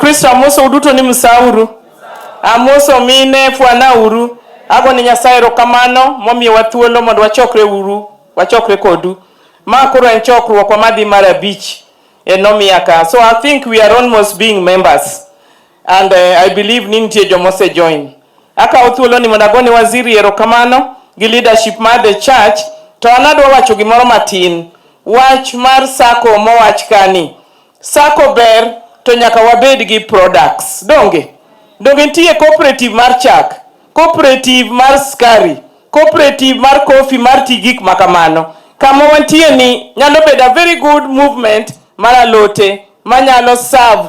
Kristo amoso uduto ni msauru amoso mine fwana uru ago ni Nyasaye erokamano momiyowa thuolo mondo wachokre uru wachokre kodu ma koro en chokruokwa madhi mar abich e nomiaka so I think we are almost being members And uh, I believe ni nitie joma ose join. Akawo thuolo ni mondo agone waziri erokamano gi leadership mar the church to an adwa wacho gimoro matin. Wach mar sako mowach kani. Sako ber to nyaka wabed gi products. Donge? Donge nitie cooperative mar chak, cooperative mar skari, cooperative mar coffee mar ti gik ma kamano. Kama wantie ni nyalo bedo a very good movement mar alote manyalo serve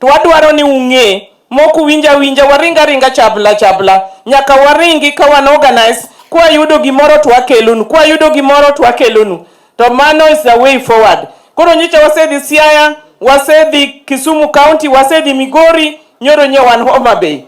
To wadwaro ni ung'e, mok uwinj awinja waring aringa chabla chabla. Nyaka waringi ka wan organize, kwayudo gimoro to wakelonu, kwayudo gimoro to wakelonu. To mano is the way forward. Koro nyicha wasedhi Siaya, wasedhi Kisumu County, wasedhi Migori, nyoro nye wan Homa Bay.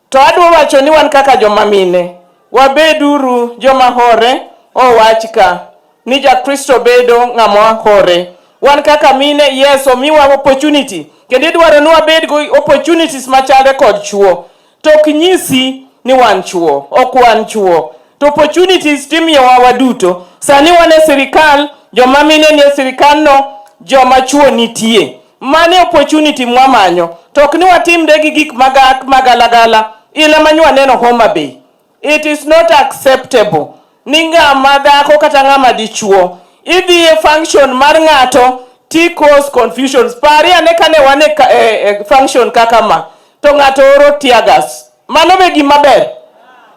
To adwa wacho ni wan kaka joma mine, wabeduru joma hore. Owach ka ni Jakristo bedo ng'ama hore. Wan kaka mine, yes, omiwa opportunity kendo idwaro ni wabed go opportunities machalre kod chuo. To ok nyisi ni wan chuo, ok wan chuo. To opportunities timiyowa waduto. Sani wan e sirikal, joma mine ni e sirikal no, joma chuo nitie. Mani opportunity mwamanyo to ok ni watimre gi gik magak magalagala ile manywa neno Homa Bay. It is not acceptable ni ng'ama dhako kata ng'ama dichuo idhi e function mar ng'ato ti cause confusions. Pari ane kane wane e, e, e, function kaka ma to ng'ato oro tiagas. Mano be gima ber.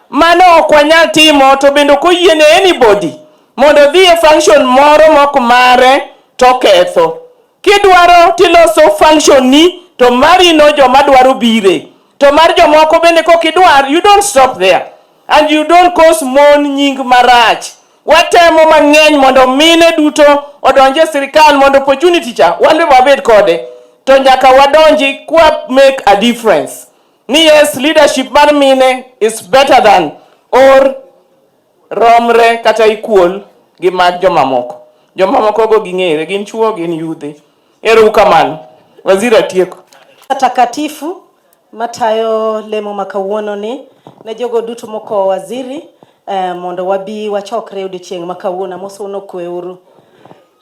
Mano ok wanyal timo to bende ok oyiene anybody mondo odhi e function moro mok mare to ketho. Kidwaro tiloso function ni to mari no joma dwaro bire to mar jomoko bende kok idwar you don't stop there and you don't cause mon nying marach watemo mang'eny mondo mine duto odonje e sirikal mondo opportunity cha wan be wabed kode to nyaka wadonji kwa make a difference ni yes leadership mar mine is better than or romre kata equal gi mag jomamoko. Jomamoko go ging'ere, gin chuo, gin yudhe. Ero ukamano. Waziri atieko. Takatifu matayo lemo ma kawuono ni ne jogo duto mokowo waziri eh, mondo wabi wachokre odiochieng' ma kawuono amoso unokweuru.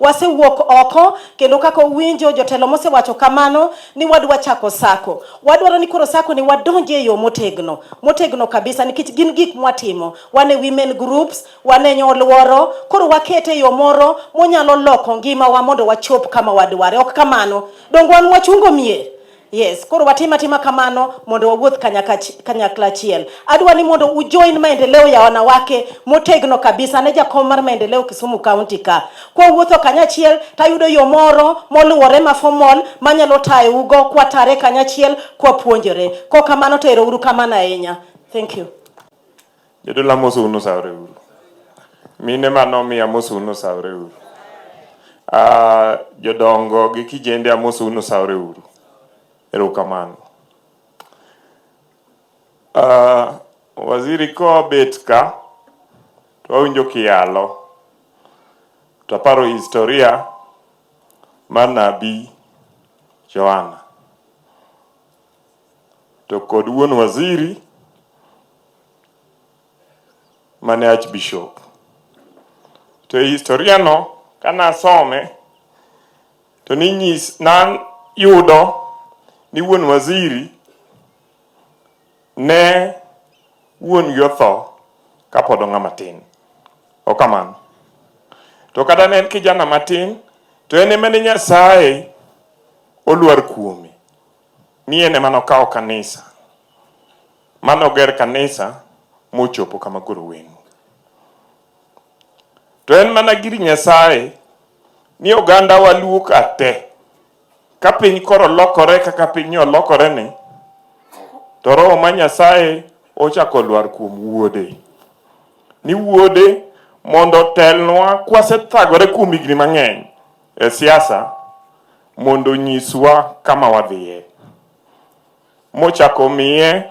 Wasewuok oko kendo kaka uwinjo jotelo mosewacho kamano ni wadwa chako sako. Wadwaro ni koro sako ni wadonje e yo motegno, motegno kabisa nikech gin gik mwatimo. Wan e women groups, wan e nyoluoro, koro wakete e yo moro monyalo loko ngimawa mondo wachop kama wadware. Ok kamano. Donge wan wachungo mier? Yes, koro watima tima kamano mondo wawuoth kanyakach- kanyakla achiel. Adwa ni mondo ujoin maendeleo ya wanawake motegno kabisa. Ane jakom mar maendeleo Kisumu County ka. Kwa wuotho kanyachiel tayudo yo moro moluwore ma formal manyalo tayougo kwatare kanyachiel kwapuonjore. Kok kamano to ero uru kamano ahinya. Thank you. Jodolo amoso unu sawre uru. Mine ma nomi amoso unu sawre uru. Ah, jodongo gi kijende amoso unu sawre uru. Erokamano. Ah, waziri kobet ka to wawinjo kiyalo to aparo historia mar nabii Johana. to kod wuon waziri mane Archbishop. To e historia no kana asome to ninyis nan yudo ni wuon waziri ne wuon gi otho kapod ong'a matin. Okamano. To kata ne en kijana matin to en emane Nyasaye olwar kuome. Mien ema nokawo kanisa mane oger kanisa mochopo kama koro wen. To en mana gir Nyasaye ni oganda waluo ka te ka piny koro lokore kaka piny olokore ni to roho ma Nyasaye ochako lwar kuom wuode ni wuode mondo otelnwa kwasethagore kuom higni mang'eny e siasa mondo onyiswa kama wadhiye. Mochako miye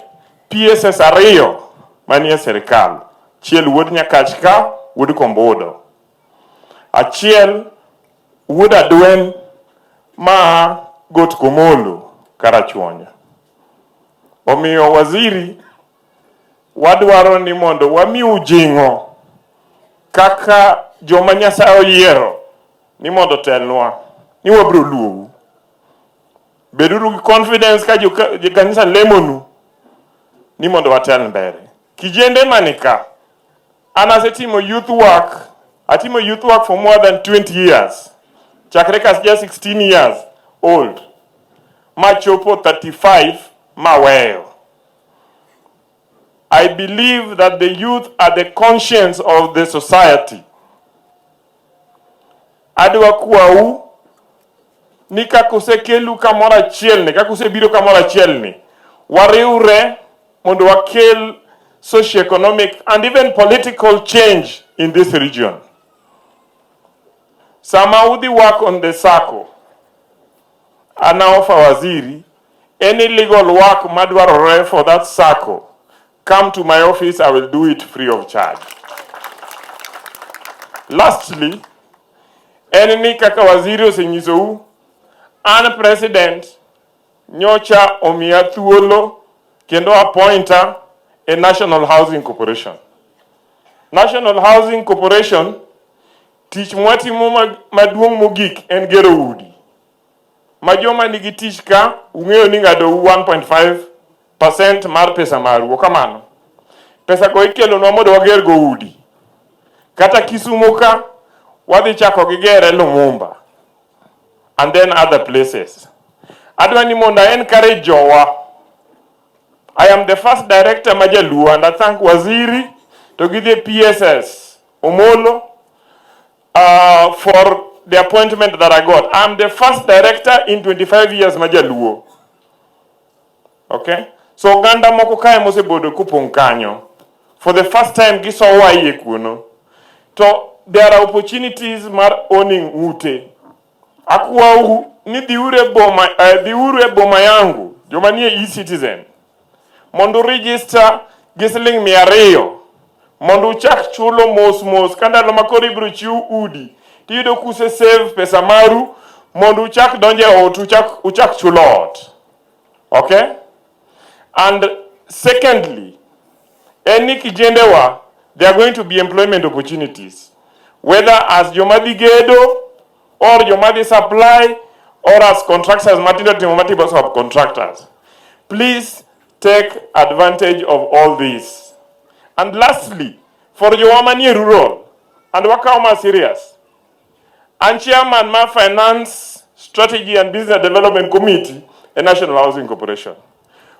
PSS ariyo manie sirkal, achiel wuod Nyakach ka wuod Kombudo, achiel wuod Adwen ma Got Komolo Karachuonyo. Omiyo waziri, wadwaro ni mondo wamiu jing'o kaka joma Nyasaye oyiero ni mondo telnwa ni wabiro luowu. Beduru gi confidence ka jokanisa lemonu ni mondo watel mbele. Kijende manika, an asetimo youth work, atimo youth work for more than 20 years chakre ka ja 16 years old machopo 35 maweyo I believe that the youth are the conscience of the society. Adwa kwau ni kaka usekelu kamoro achiel ni kaka usebiro kamoro achiel ni wariwre mondo wakel socio-economic and even political change in this region. Sama udhi work on the sacco, anaofa waziri Any legal work madwarore for that sacco, come to my office, I will do it free of charge. Lastly, en ni kaka waziri osenyisou, an president nyocha omiya thuolo kendo appointa e National Housing Corporation. National Housing Corporation tich mwatimo maduong' mogik en gero udi. ma joma nigi tich ka ung'eyo ni ng'adou 1.5% mar pesa maru. Kamano, pesago ikelonwa mondo wagergo udi. Kata Kisumo ka, wadhi chako gi gere Lumumba and then other places. Adwa ni mondo a encourage jowa. I am the first director ma Jaluo and I thank Waziri to gi the PSS Omolo uh, for the appointment that I got. I'm the first director in 25 years majaluo. Okay? So oganda moko kae mosebodo kupong' kanyo. For the first time gisowa iye kuno. To there are opportunities mar owning ute. Akwau ni dhiuru e boma, uh, dhiuru e boma yangu joma nie e-citizen mondo register gi siling mia ariyo mondo uchak chulo mos mos ka ndalo ma koro ibiro chiw udi tiyudo kuse save pesa maru mondo uchak donje ot uchak, uchak chulo ot okay and secondly en ni kijendewa there are going to be employment opportunities whether as joma dhi gedo or joma dhi supply or as contractors matindo timo matibo sub contractors please take advantage of all this and lastly for joma manie rural and wakawo ma serious An chairman mar Finance Strategy and Business Development Committee e National Housing Corporation.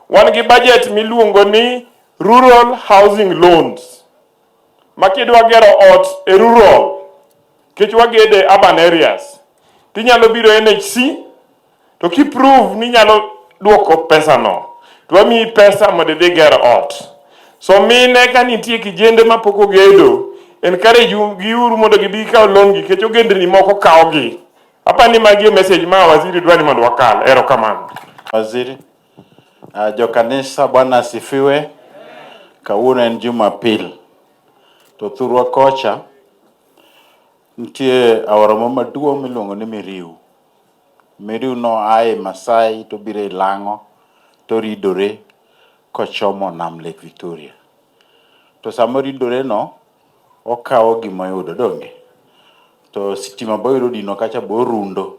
Wan gi budget miluongo ni Rural Housing Loans. Ma kidwa gero ot e rural, kech wagede urban areas, tinyalo biro NHC to ki prove ni nyalo duoko pesa no to wamiyi pesa mondo idhi ger ot so mine ka nitie kijende ma pok ogedo encourage gi uru mondo gibi kaw loan gi kecho gendni moko kawo gi apa ni magi message ma waziri dwani mondo wakal ero kamano waziri uh, ah, jo kanisa bwana asifiwe kawuono en jumapil to thurwa kocha nitie aora maduong' miluongo ni miriu Meru noa e Maasai to obiro e Lang'o to oridore kochomo nam Lake Victoria. To sama oridoreno, okawo gima oyudo donge. To sitima be oyudo odino kacha be orundo.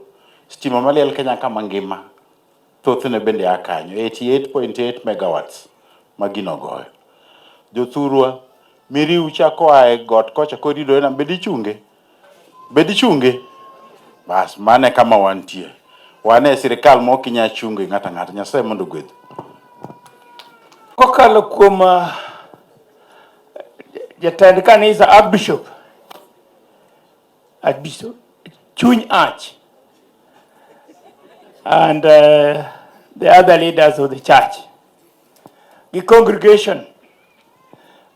Sitima maliel Kenya ka mangima thothne bende a kanyo, 88.8 megawatts ma gino goyo. Jothurwa, miriu cha koa e got kocha koridore nam be dichunge? Be dichunge? Bas, mano e kama wantie. Wan e sirkal ma ok inyal chungo ng'ato ang'ata. Nyasaye mondo ogwedhi. Kokalo kuom ah, jatend kanisa Archbishop, Archbishop Chuny Arch and uh, the other leaders of the church. The congregation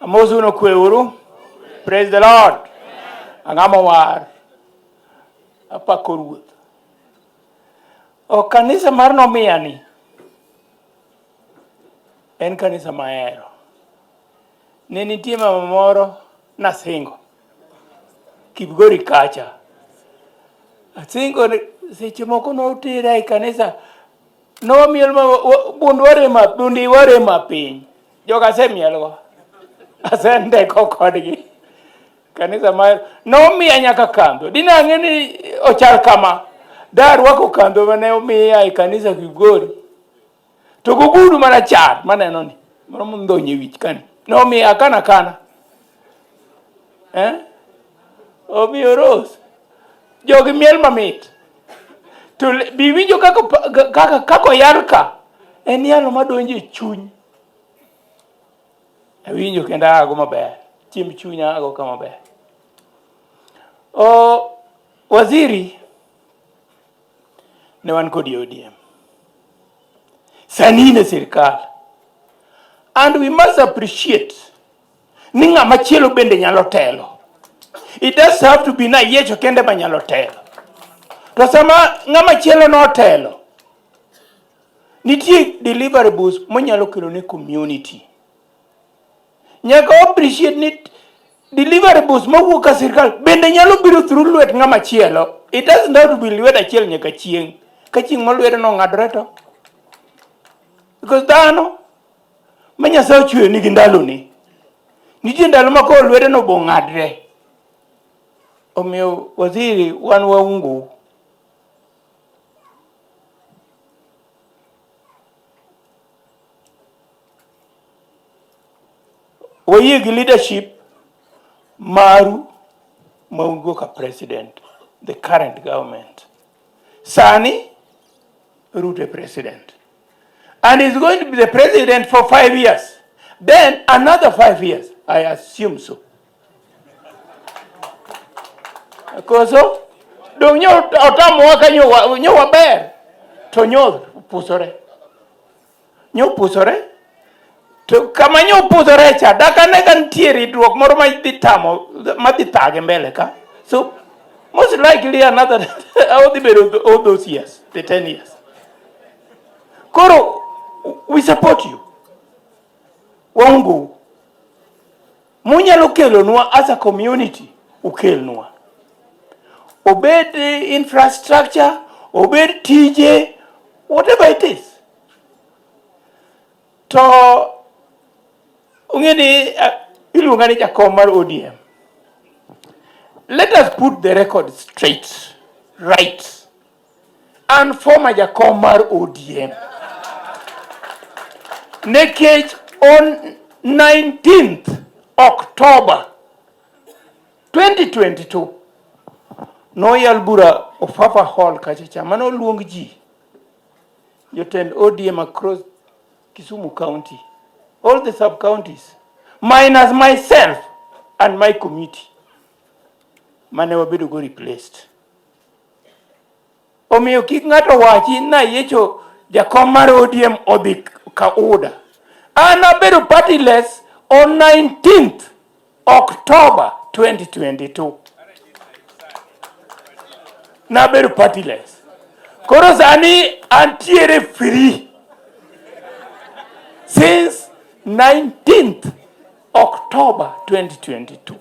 Amosu no kwe uru. Praise the Lord. Ang'ama war. Apako ruoth. O kanisa mar nomiya ni. En kanisa mahero. Ne nitie mama moro nasingo. Kipgori kacha. Asingo ni- seche moko notera e kanisa. Nomiel ma bund warema, bundi warema piny. joga asemielgo asendeko kodgi kanisa ma nomiya nyaka kandho dine ang'e ni ochal kama darwako kandho mane omiya e kanisa Kigori to gogudu mana char maneno ni moro mondhonye wich kani nomiya akana kana eh? omiyo rose jogi miel mamit to biwinjo kaka kaka kaka oyal ka en yalo madonjo e chuny awinjo kendo ago maber chiemb chuny ago ka maber o waziri ne wan kod ODM sani ne sirikal and we must appreciate ni ng'ama chielo bende nyalo telo. It does have to be na Yesu kende ma nyalo telo. To sama ng'ama chielo notelo, nitie deliverables monyalo kelo ne community. Nyaka wa appreciate ni deliverables mawuok ka sirkal bende nyalo biro through lwet ng'ama chielo. It doesn't have to be lwedo achiel nyaka chieng'. Ka chieng' ma lwedo nong'adore to. Because dhano ma Nyasaye ochweyo nigi ndaloni. Nitie ndalo ma koro lwedeno bo ng'adre. Omiyo waziri wan waungu. Wayie gi leadership maru ma un go ka president, the current government. Sani Ruto e president and is going to be the president for five years then another five years I assume so koso dong nyo otamowa ka nyo waber to nyo pusore Nyopusore. To kama nyopusore cha dakane ka nitie ridruok moro ma dhi tamo ma dhi thage mbele ka. So most likely another odhi bedo all those years, the 10 years. Koro we support you. Waungu. Munyalo kelonwa as a community, ukelnwa. Obed infrastructure, obed tije, whatever it is. To ung'e ni uh, iluonga ni jakom mar ODM. Let us put the record straight, right. An former jakom mar ODM. Nekech on 19th October 2022 noyal bura Ofafa Hall kachacha mane oluong ji jotend ODM across Kisumu County, all the sub counties minus myself and my committee mane wabedo go replaced. Omiyo kik ng'ato wachi ni ayiecho jakom mar ODM odhi ka UDA. An abedo partyless on 19th October 2022. Nabedo partyless. Koro sani antiere free since 19th Oktoba 2022.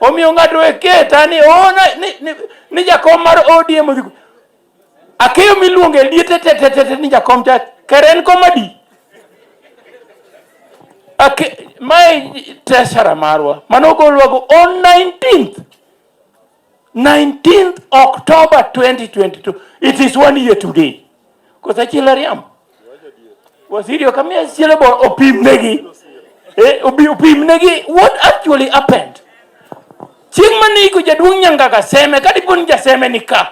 Omiyo ng'ato eketa ni ona oh, ni, ni, ni jakom mar ODM odhi akeyo miluongo e liete tetetete ni jakom cha keren komadi ake mae tesara marwa mano ogolwago on 19th 19th October 2022. It is one year today. Kosa chila riam. Waziri wakamia chila bo opim negi. Eh, opim negi what actually happened. Chieng' mane iko jaduong' Nyangaga Seme, kadiponi jaseme nika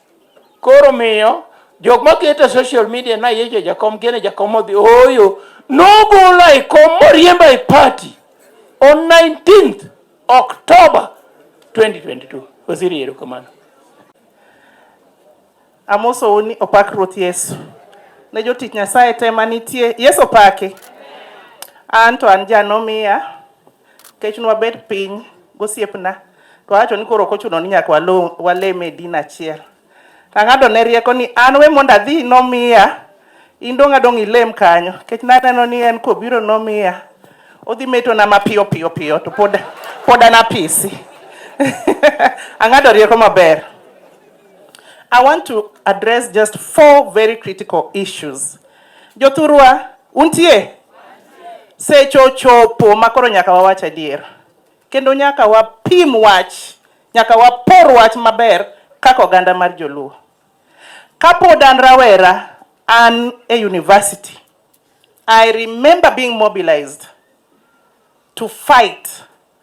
Koro miyo jok ma keto social media na yejo jakom kene jakom odhi oyo nogolo e kom moriemba e party on 19th October 2022. Waziri erokamano. Amosou ni opak Ruoth Yesu. Ne jotich Nyasaye te ma nitie. Yesu opaki. An to an janomiya Kech nwa bet piny gosiepna, to awacho ni koro ok ochuno ni nyaka walo- walem e din achiel. To ang'ado ne rieko ni an we mondo adhi nomiya, in dong' adong' ilem kanyo. Kech naneno ni en kobiro nomiya, odhi metona mapiyo piyo piyo to pod, pod an apisi. ang'ado rieko maber. I want to address just four very critical issues Jothurwa, untie? Seche ochopo ma koro nyaka wawach adier, kendo nyaka wapim wach, nyaka wapor wach maber kaka oganda mar Joluo. Kapod an rawera, an e university, I remember being mobilized to fight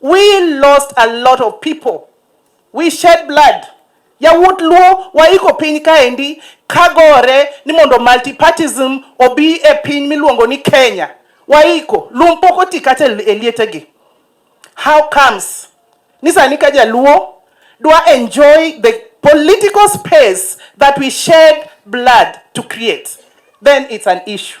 We lost a lot of people. We shed blood. Yawuot Luo waiko piny kaendi kagore ni mondo multipartism obi e piny miluongo ni Kenya. Waiko, lum pok oti kata e lietegi. How comes ni sani ka Jaluo dwa enjoy the political space that we shed blood to create, then it's an issue.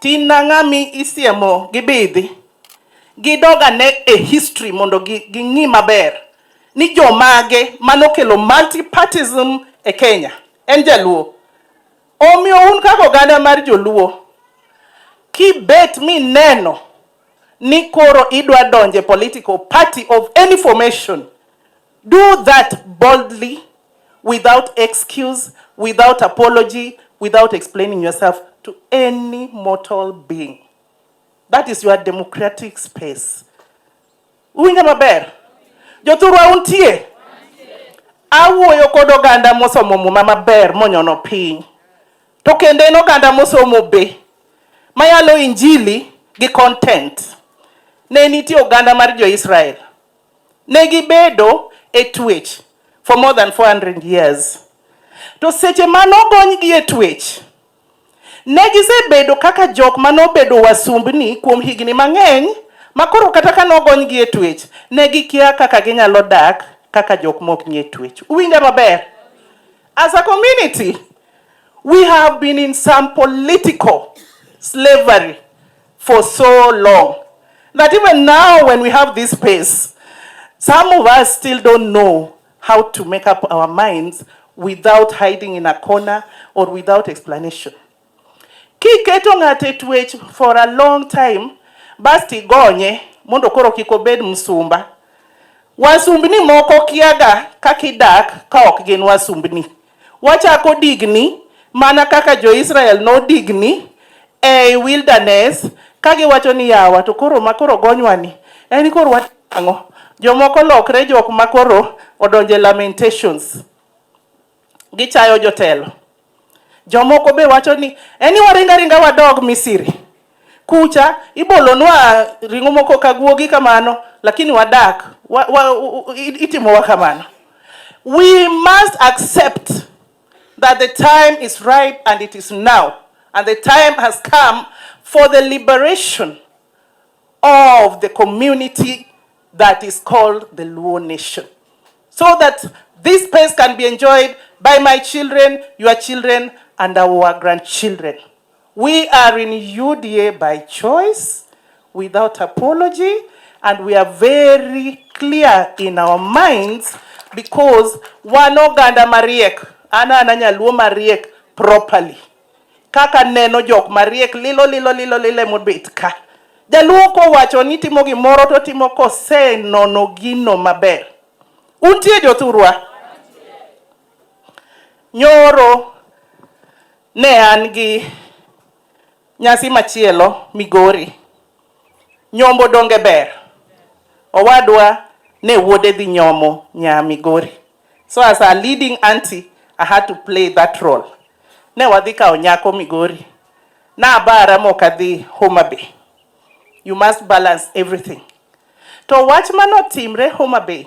Tin na ng'ami isiemo gibidhi gidog ane e history mondo gi ging'i maber ni jomage manokelo multipartism e Kenya en jaluo. Omiyo un kaka oganda mar joluo kibet mineno ni koro idwa donje political party of any formation Do that boldly without excuse, without apology, without explaining yourself to any mortal being. That is your democratic space. Uwinjo maber? Jothurwa untie? Awuoyo kod oganda mosomo muma maber monyono piny. To kendo en oganda mosomo be mayalo injili gi content. Ne nitie oganda mar jo-Israel Ne gibedo e twech for more than 400 years. To seche ma nogonygi e twech, ne gisebedo kaka jok ma nobedo wasumbni kuom higni mang'eny ma koro kata ka nogonygi e twech, ne gikia kaka ginyalo dak kaka jok mok nie twech. Uwinja maber? As a community, we have been in some political slavery. for so long that even now when we have this space, some of us still don't know how to make up our minds without hiding in a corner or without explanation. Kiketo ng'ate twech for a long time basti gonye mondo koro kik obed msumba. Wasumbni moko kiaga kakidak ka ok gin wasumbni. Wachako digni mana kaka jo-Israel nodigni ei wilderness ka giwacho ni yawa to koro ma koro gonywani en ni koro watimo ang'o? Jomoko lokre jok ma koro odonjo e lamentations. Gichayo jotelo. Jomoko be wacho ni en ni waring aringa wadog Misiri. Kucha ibolonwa ring'o moko ka guogi kamano, lakini wadak wa, wa, itimowa kamano. We must accept that the time is ripe and it is now and the time has come for the liberation of the community that is called the Luo nation so that this space can be enjoyed by my children, your children and our grandchildren. We are in UDA by choice without apology and we are very clear in our minds because wan oganda mariek an an anyaluo mariek properly kaka neno jok mariek lilo lilo lilo lilo emobet ka jaluo kowacho ni timo gimoro to timo kosenono gino maber untie jothurwa nyoro Ne an gi nyasi machielo Migori. Nyombo donge ber? Owadwa ne wuode dhi nyomo nya Migori. So as a leading auntie, I had to play that role. Ne wadhi kawo nyako Migori. Nabara mok adhi Homa Bay. You must balance everything. To wach manotimre Homa Bay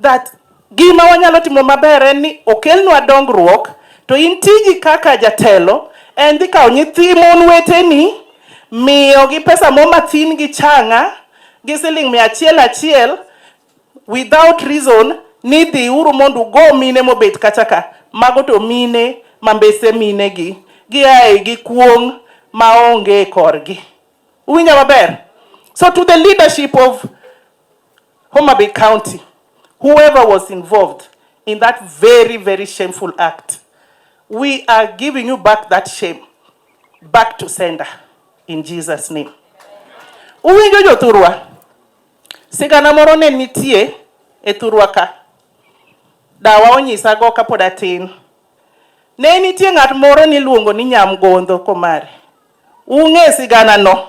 that gima wanyalo timo maber en ni okelnwa dongruok to in tiji kaka jatelo en dhi kawo nyithi mon weteni miyogi pesa mo mathin gi changa gi siling mia achiel achiel without reason ni dhi uru mondo ugo mine mobet kacha ka mago to mine mambese mine gi giae gi kuong' maonge korgi uwinja maber so to the leadership of Homa Bay County, whoever was involved in that very, very shameful act, we are giving you back that shame, back to sender, in Jesus' name. Uwinjo jothurwa, sigana moro ne nitie e thurwa ka, dawa onyisago kapod atin. Ne nitie ng'at moro niluongo ni Nyamgondho Komare. Ung'e siganano,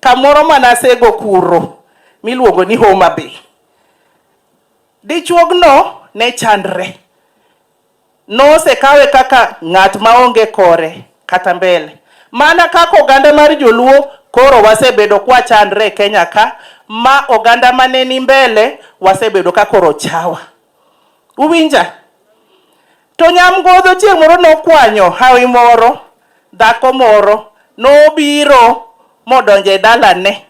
kamoro ma nasego kuro miluongo ni Homa Bay. Dichuogno ne chandre, nosekawe kaka ng'at maonge kore kata mbele. Mana kaka oganda mar Joluo koro wasebedo kwachandre e Kenya ka, ma oganda mane ni mbele wasebedo ka koro chawa. Uwinja? To nyamgodho chieng' moro nokwanyo hawi moro, dhako moro nobiro modonjo e dalane.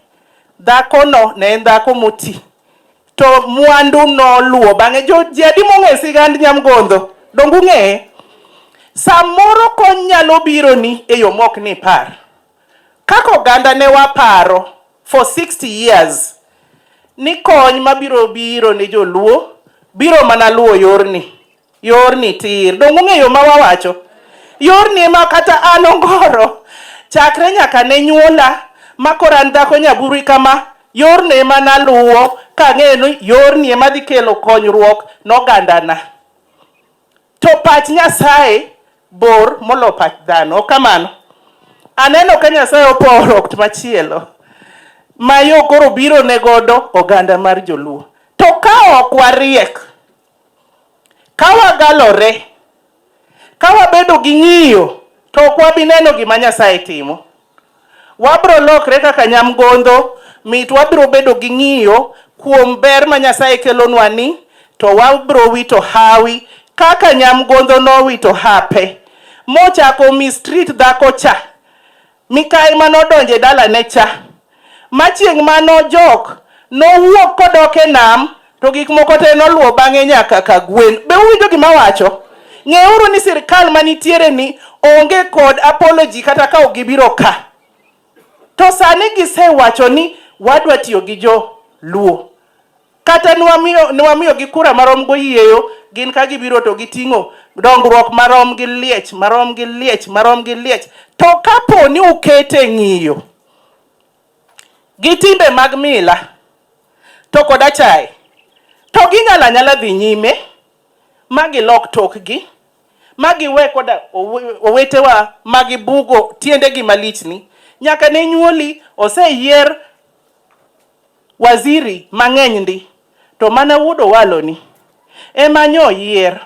Dhakono ne en dhako moti, to mwandu noluwo bang'e. Jo, ji adi mong'eyo sigand nyamgodho? Donge ung'eye? Samoro kony nyalo bironi e yo mok nipar. Kaka oganda ne waparo for 60 years ni kony mabiro biro ne joluo biro mana luwo yorni. Yorni tir. Donge ung'eyo ma wawacho? Yorni ema kata an ongoro chakre nyaka ne nyuola ma koro an dhako nyaburi kama yorni ema naluwo kang'eyo ni yorni ema dhi kelo konyruok nogandana. To pach Nyasaye bor molo pach dhano. Ok kamano? Aneno ka Nyasaye oporo okt machielo ma yo koro biro ne godo oganda mar Joluo. To ka ok wariek Ka wagalore, ka wabedo gi ng'iyo, to ok wabi neno gima Nyasaye timo. Wabiro lokre kaka nyamgodho mit, wabiro bedo gi ng'iyo kuom ber ma Nyasaye kelonwa ni, to wabiro wito hawi kaka nyamgodho nowito hape mochako omi street dhako cha. Mikayi ma nodonjo e dalane cha, ma chieng' ma nojok, nowuok kodok e nam, to gik moko te noluwo bang'e nyaka ka gwen. Be uwinjo gima awacho? Ng'euru ni sirkal ma nitiere ni onge kod apology kata ka ok gibiro ka. To sani gisewacho ni wadwa tiyo gi jo Luo. Kata nwamiyo nwamiyogi kura marom goyieyo gin ka gibiro to giting'o dongruok marom gi liech marom gi liech marom gi liech to kapo ni ukete ng'iyo gi timbe mag mila to kod achaye to ginyalo anyala dhi nyime ma gilok tokgi ma giwe koda owe- owetewa ma gibugo tiendegi malichni nyaka ne nyuoli oseyier Waziri mang'eny ndi to mana wuod Owalo ni ema nyo oyier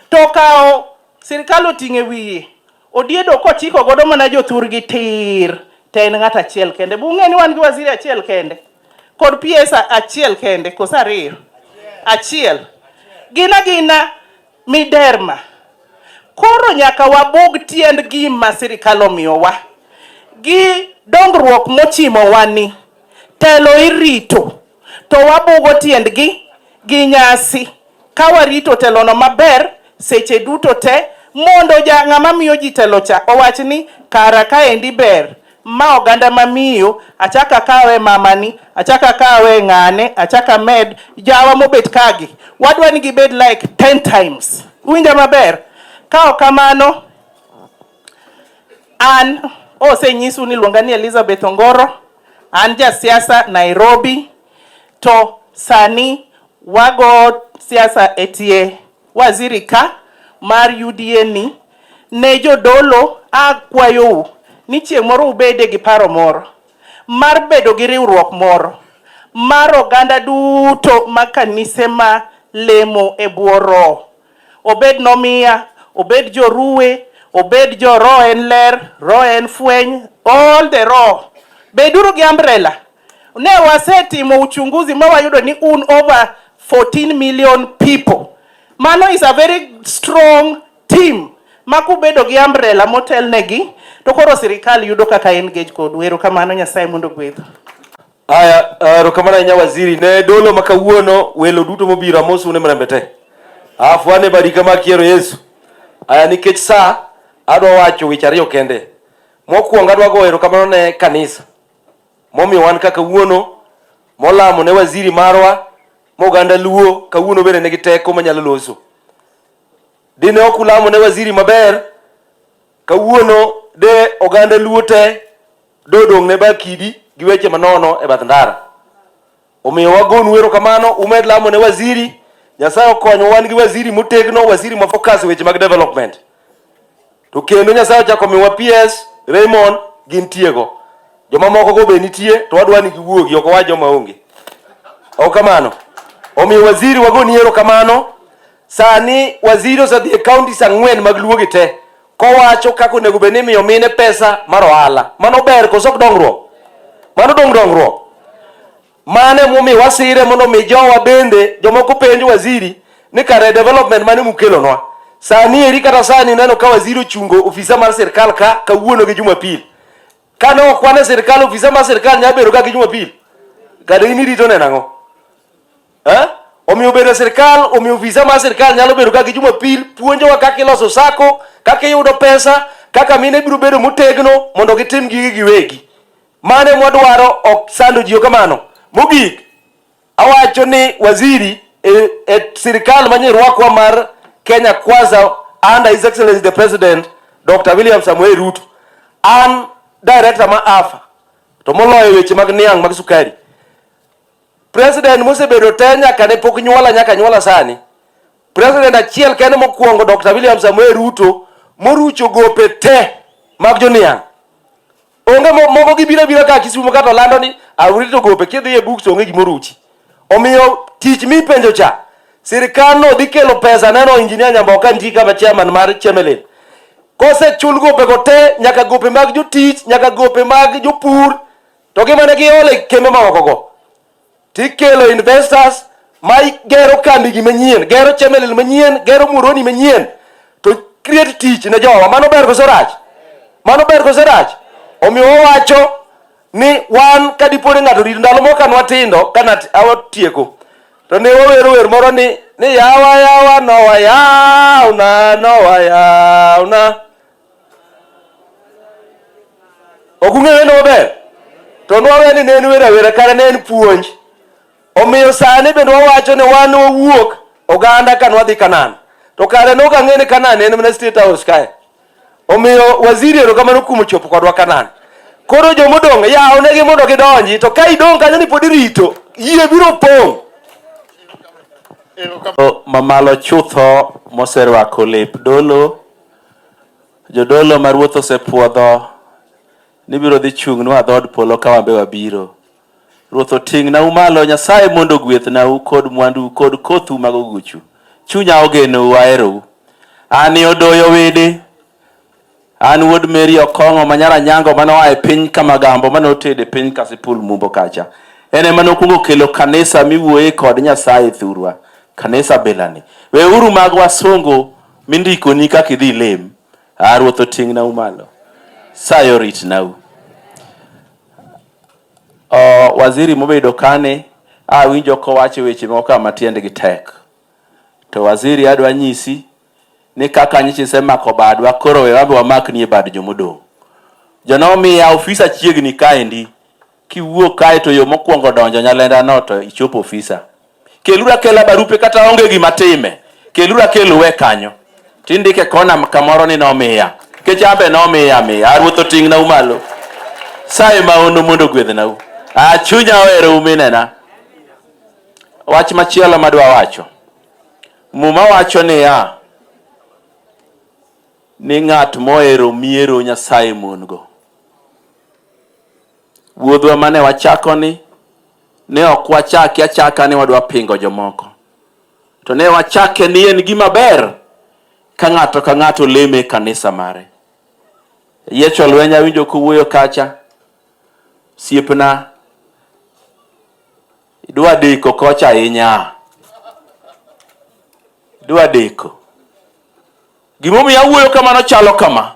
to okawo sirkal oting'o e wiye odiedo kochiko godo mana jothurgi tir to en ng'at achiel kende. Be ung'e ni wan gi waziri achiel kende kod PS achiel kende koso ariyo? Achiel. Gin agina Miderma. Koro nyaka wabug tiend gima sirikal omiyowa gi dongruok mochimowa ni telo irito to wabugo tiendgi gi nyasi ka warito telono maber seche duto te mondo ja ng'ama miyo ji telo cha owach ni kara kaendi ber Ma oganda ma miyo, achak akawe mamani, achak akawe ng'ane, achak amed jawa mobet kagi. Wadwa ni gibed like 10 times. Uwinja maber? Ka ok kamano, an osenyisu ni luonga ni Elizabeth Ongoro, an ja siasa Nairobi, to sani wago siasa e tie Waziri ka mar UDA ni ne jodolo akwayou ni chieng' moro ubede gi paro moro mar bedo gi riwruok moro mar oganda duto ma kanise ma lemo e bwo roho obed nomiya obed joruwe obed jo roho en ler roho en fweny all the roho beduru gi umbrella ne wasetimo uchunguzi ma wayudo ni un over 14 million people. Mano is a very strong team ma kubedo gi umbrella motelnegi to koro sirikal yudo kaka engage kodu. Erokamano, Nyasaye mondo ogwedhu. Aya, eh, erokamano ahinya waziri. Ne dolo ma kawuono welo duto mobiro amosu ne mrembe te. Afu ane badi kama kiero Yesu. Aya, nikech saa adwa wacho weche ariyo kende. Mokwongo adwa goyo erokamano ne kanisa momiyo wan ka kawuono, molamo ne waziri marwa, moganda Luo kawuono bende nigi teko manyalo loso. Dine ok ulamo ne waziri maber, kawuono de oganda Luo te dodong' ne bakidi gi weche manono e bath ndara. Omiyo wagonu erokamano, umed lamo ne waziri. Nyasaye okonyo, wan gi waziri motegno, waziri ma focus weche mag development. To kendo Nyasaye ochako miwa PS, Raymond gin tiego. Joma moko go be nitie to wadwa ni giwuogi ok wa joma onge. Okamano. Omiyo waziri wagoni erokamano. Sani waziri osedhi e counties ang'wen mag luo gi te kowacho kaka onego bed ni imiyo mine pesa mar ohala. Mano ber koso ok dongruok? Mano dong dongruok. Mane momi wasire mondo mi jowa bende jomoko penj waziri ni kare development mane mukelonwa. Sani eri kata sani neno ka waziri ochungo ofisa mar sirkal ka kawuono gi Jumapil. Kane ok wane sirkal ofisa mar sirkal nyalo bedo ka gi Jumapil. Kata in irito neno ang'o? Eh? Omiyo bedo e sirkal, omiyo visa mar sirkal nyalo bedo kaka Jumapil puonjowa kaka iloso sako, kaka iyudo pesa, kaka mine biro bedo motegno mondo gitim gigi giwegi. Mane mwadwaro ok sando jiyo kamano. Mogik, awacho ni waziri e, e sirkal manye rwakwa mar Kenya Kwanza under His Excellency the President Dr. William Samuel Ruto. An director ma AFA to moloyo weche mag niang' mag sukari President mosebedo te nyaka ne pok nyuola nyaka nyuola sani. President achiel kende mokwongo Dr. William Samuel Ruto morucho gope te mag joniang'. Onge moko gibiro biro ka Kisumo kata olando ni awrito gope kidhi e books onge gimoruchi. Omiyo tich mipenjo cha sirkal no dhi kelo pesa neno injinia Nyamboka nitie kama chairman mar Chemelil. Kosechul gope go te nyaka gope mag jotich nyaka gope mag jopur To gi mane giolo e kembe maokogo, tikelo investors ma gero kambigi manyien, gero chemelil manyien, gero muroni manyien, to create tich ne jowa. Mano ber koso rach? Mano ber koso rach? Omiyo wawacho ni wan ka dipo ni ng'ato rit ndalo moko kanwa tindo kana awatieko to ne wawero wer moro ni ni yawa yawa nowa yawna nowa yawna ok ung'eyo wendo maber to nwawe ni ne en wer awera kare ne en puonj omiyo sani bende wawacho ni wan wawuok oganda ka nwadhi kanan to kare nok ang'e ni kanan en mana state house kae omiyo waziri erokamano kuom chopo kodwa kanan koro jomodong' yawnegi mondo gidonji to ka idong' kanyo ni pod irito yie biro pong' mamalo chutho moserwako lep dolo Jodolo ma Ruoth osepwodho ni biro dhi chung'nwa dhood polo ka wambe wabiro. Ruoth oting'nau malo, Nyasaye mondo ogwethnau kod mwandu kod kothu mag oguchu. Chunya ogenou, aherou. An e Odoyo Widi, an wuod Mary Okong'o ma nyar Anyango mane oa e piny Kamagambo mane otedo e piny Kasipul Mumbo kacha. En ema nokwongo kelo kanisa miwuoye kod Nyasaye thurwa, kanisa bilani. Weuru mag wasungu mindikoni kaka idhi lem a ruoth otingnau malo sayo ritnau uh, waziri mobedo kane awinjo kowacho weche moko kama tiendgi tek to waziri adwa nyisi ni kaka nyichi isemako badwa koro we wabe wamakni e bad jomodong' jonomiya ofisa chiegni kaendi Kiwuok kae to yo mokwongo donjo Nyalenda no to ichopo ofisa. Kelura kela barupe kata onge gima time. Kelura kelu we kanyo. Tindike kona kamoro ni nomiya. Kechambe nomiya miya. Aruoth oting'na umalo. Saye ma onu mondo gwedhna u. A chunya ohero uminena. Wach machielo madwa wacho. Muma wacho niya, ni ng'at mohero miero Nyasaye mon-go. Wuodhwa mane wachakoni ne ok wachake achaka ni wadwa pingo jomoko, to ne wachake ni en gima ber ka ng'ato ka ng'ato leme e kanisa mare. Yiecho lweny awinjo kuwuoyo kacha, siepna idwa deko kocha ahinya, idwa deko. Gimomiyo awuoyo kamano chalo kama,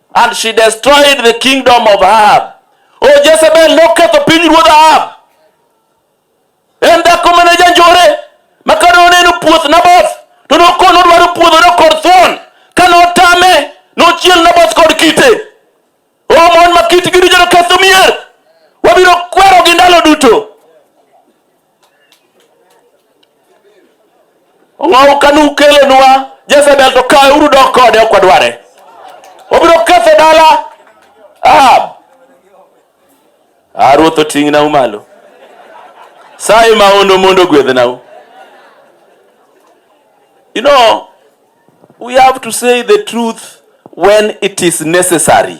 And she destroyed the kingdom of Ahab. O oh, Jezebel noketho piny ruodh Ahab. En dhako mane janjore ma kane oneno puoth Naboth to nokono dwaro puodhone kod thuon ka notame nochiel Naboth kod kite. O oh, mon ma kitgi richo noketho mier. Wabiro kwerogi ndalo duto. Ong'owu ka nukelonwa Jezebel to kawe uru dok kode ok wadware. Obiro ketho dala Ahab. Ah, ruoth oting'nau malo. Saye maono mondo ogwedhnau. You know, we have to say the truth when it is necessary.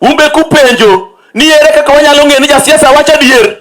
Umbe kupenjo ni ere kaka wanyalo ng'eyo ni jasiasa wacho adier?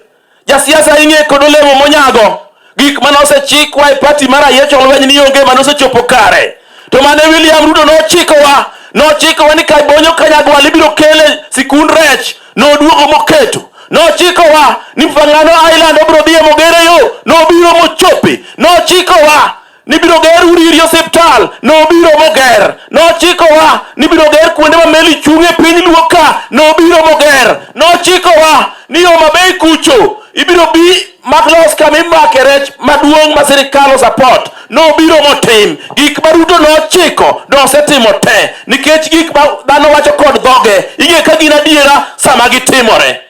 Jasiasa ing'e kod olemo monyago. Gik mane osechikwa e pati mar Ayiecho Olweny ni onge mane osechopo kare. To mane William Ruto nochikowa, nochikowa ni Kabonyo Kanyagwal ibiro kele sikund rech, noduogo moketo nochikowa ni Fangano Island obiro dhiye mogere yo, nobiro mochope, nochikowa nibiro ger udi iri osiptal nobiro moger nochikowa nibiro ger kuonde ma meli chung'e piny luo ka nobiro moger nochikowa ni yo mabei kucho ibiro bi maklos kama imake rech maduong' ma sirikal osapot nobiro motim gik ma ruto nochiko nosetimo te nikech gik ma dhano wacho kod dhoge ing'e ka gin adiera sama gitimore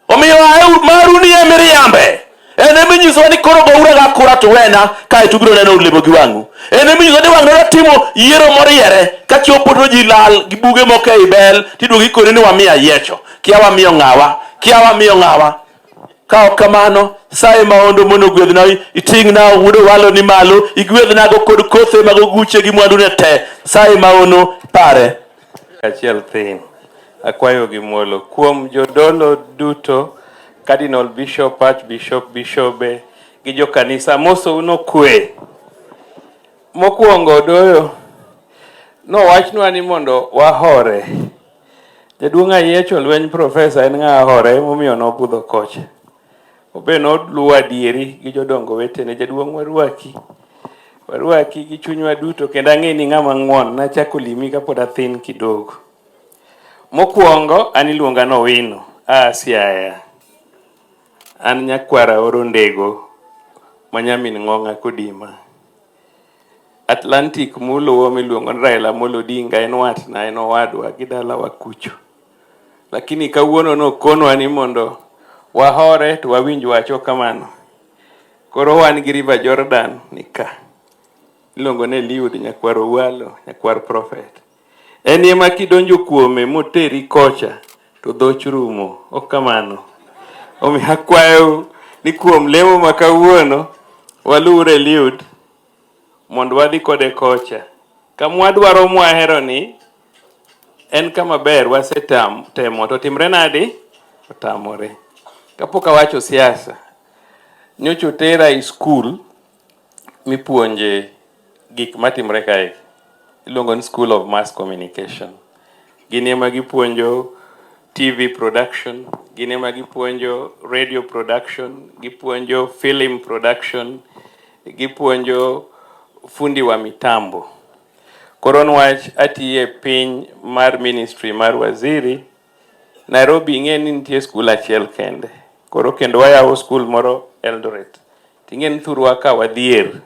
Omiyo aeu maru ni e miriambe. En e minyiso ni koro goura ga kura to wena kae to ubiro neno olemo gi wang'u. En e minyiso ni wang'u timo yiero moriere ka chopo to ji lal gi buge moko ei bel tiduogo ikoni ni wamiya yiecho. Kia wamiyo ng'awa. Kia wamiyo ng'awa. Ka ok kamano, saye maondo mondo ogwedhna iting'na wuod owalo ni malo, igwedhnago kod kothe mag oguche gi mwandune te. Saye maono pare. Achiel thin. Akwayo gi muolo kuom jodolo duto, Cardinal Bishop, Archbishop, Bishobe gi jokanisa mosou nokwe. Mokwongo doyo nowachnwa ni mondo wahore. Jaduong' Ayiecho lweny profesa en ng'a hore emomiyo nobudho kocha. Obe noluwo adieri gi jodongo wetene, jaduong' warwaki, warwaki gi chunywa duto, kendo ang'e ni ng'ama ng'won. Nachako limi kapod athin kidogo. Mokwongo an iluonga nowino a Siaya, an nyakwara oro ndego ma nyamin ng'ong'a kodima. Atlantic muluwo miluongo ni Raila Amolo Odinga en watna, en owadwa gi dalawa kucho. lakini kawuono nokonwa ni mondo wahore to wawinj wacho kamano. Koro wan gi River Jordan nika, iluongo ni Eliud nyakwar Owalo, nyakwar Prophet. En ema kidonjo kuome moteri kocha to dhoch rumo, ok kamano? Omiyo akwayo ni kuom lemo ma kawuono waluw Eliud mondo wadhi kode kocha kama wadwaro mwahero ni En kama ber wasetam temo to timre nadi? Otamore. Kapok awacho siasa, nyocha otera e skul mipuonje gik matimre kae. Iluongo ni School of Mass Communication. Gini ema gipuonjo TV production, gini ema gipuonjo radio production, gipuonjo film production, gipuonjo fundi wa mitambo. Koro nwach atiye piny mar ministry mar waziri Nairobi ing'e ni nitie skul achiel kende. Koro kendo wayawo skul moro Eldoret. Ting'e ni thurwa ka wadhier.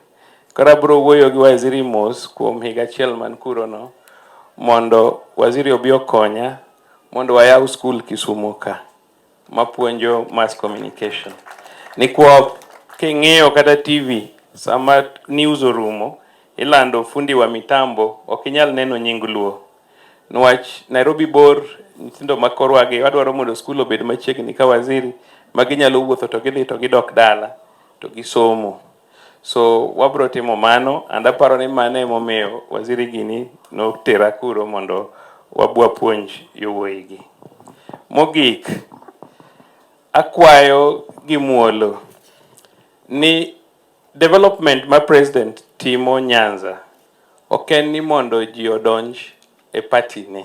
Koro abiro wuoyo gi waziri mos kuom higa achiel man kuro no mondo waziri obi okonya mondo wayaw skul Kisumo ka. mapuonjo mass communication ni kwa king'iyo kata TV sama news orumo ilando fundi wa mitambo ok inyal neno nying luo nwach Nairobi bor nyithindo ma korwagi wadwaro mondo skul obed machiegni ka waziri ma ginyalo wuotho to gidhi to gidok dala to gisomo. So wabro timo mano and aparo ni mano emomiyo Waziri Gini notera kuro mondo wabwapuonj yowuoyigi. Mogik, akwayo gi muolo ni development ma President timo Nyanza ok en ni mondo ji odonj e party ne.